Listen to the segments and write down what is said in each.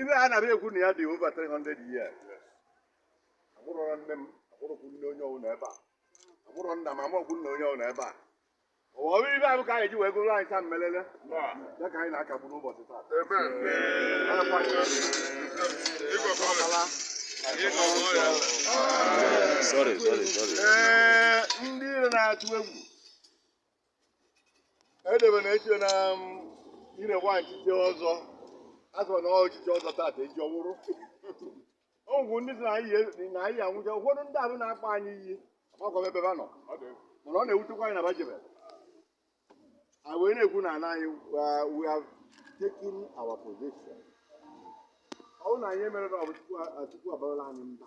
ive a na-ara ekwu na ya dị over 300 years amụrọ nne m amụrọkwu nne onye ọwụna ebe a amụrọ nna m amụrọkwu nna onye ọwụna ebe a ọ bụ ive ahụ ka anyị ji wee gụrụ anyị taa mmelele ya ka anyị na-akagbu n'ụbọchị taa Sorry, sorry, sorry. ee ndị Ire na-atụ egwu edebe na-eche na um, Ire nwa nchiche ọzọ azọ na ọchịchị ọzọ tata eji ọwụrụ ọgwụ ndị sị na anyị yi- na anyị anwụcha ụfọdụ ndị ahụ na-akpa anyị iyi agbakọ ebe ba nọ mana ọ na-ewutekwa anyị na ba jebe anyị wee na-ekwu na ana anyị uh, we have taken our position ọ bụrụ na anyị emere na ọ bụ Chukwu a- Chukwu abarala anyị mba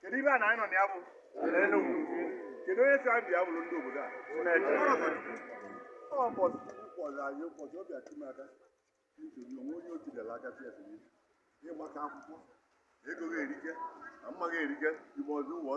kedu ebe a na anyị nọ na ya bụ kedu onye si anyị bịa bụrụ ndị obodo a ụbọchị Chukwu kpọrọ anyị ụbọchị ọ bịa chimaka nsogbu onwe onye otu dara aka si esi ịgbaka akwụkwọ ego ga-erike na mma ga-erike igbe ọzọ ụwa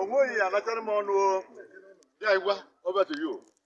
onweghị ya anachara m ọnụ oya igwe over to you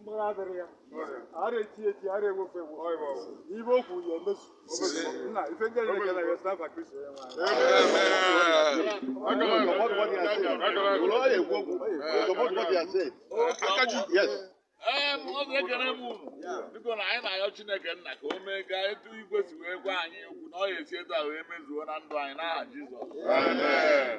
mgbagha adịrọ ya ara eti eti ara ewofe ewo ive o kwu ya-emezu nna ife ndị anyị na-ekele ya si n'afa Kristo ya Em, ọ na-ekele m unu biko na anyị na-ayọ Chineke nna ka o mee ka etu igwe si wee gwa anyị okwu na ọ ya-esi etu a wee mezuo na ndụ anyị n'aha Jizọs Amen.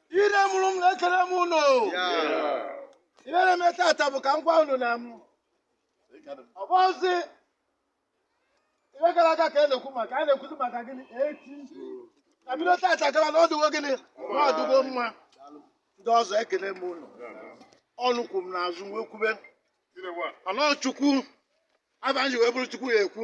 Ire mụrụ m na-ekele m unu ihe na-eme tata bụ ka m gwa unu na m ọ bụrọzi ihe gara aga ka a na-ekwu maka a na-ekwuzi maka gịnị echi na bido tata gara na ọ dụgo gịnị na ọ dụgo mma ndị ọzọ ekele m unu unu kwụ m n'azụ wee kwụbe anọ Chukwu abịa ji wee bụrụ Chukwu ya ekwu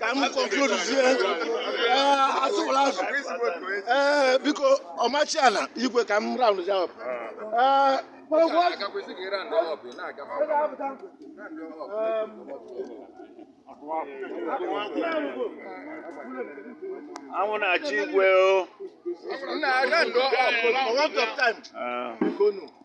ka m concludezie atụwụla azụ ee biko ọmachi ala igwe ka m round ya up ee anwụ na-acha igwe o Nna aga ndụ ọkụ. for want of time Ah. biko nu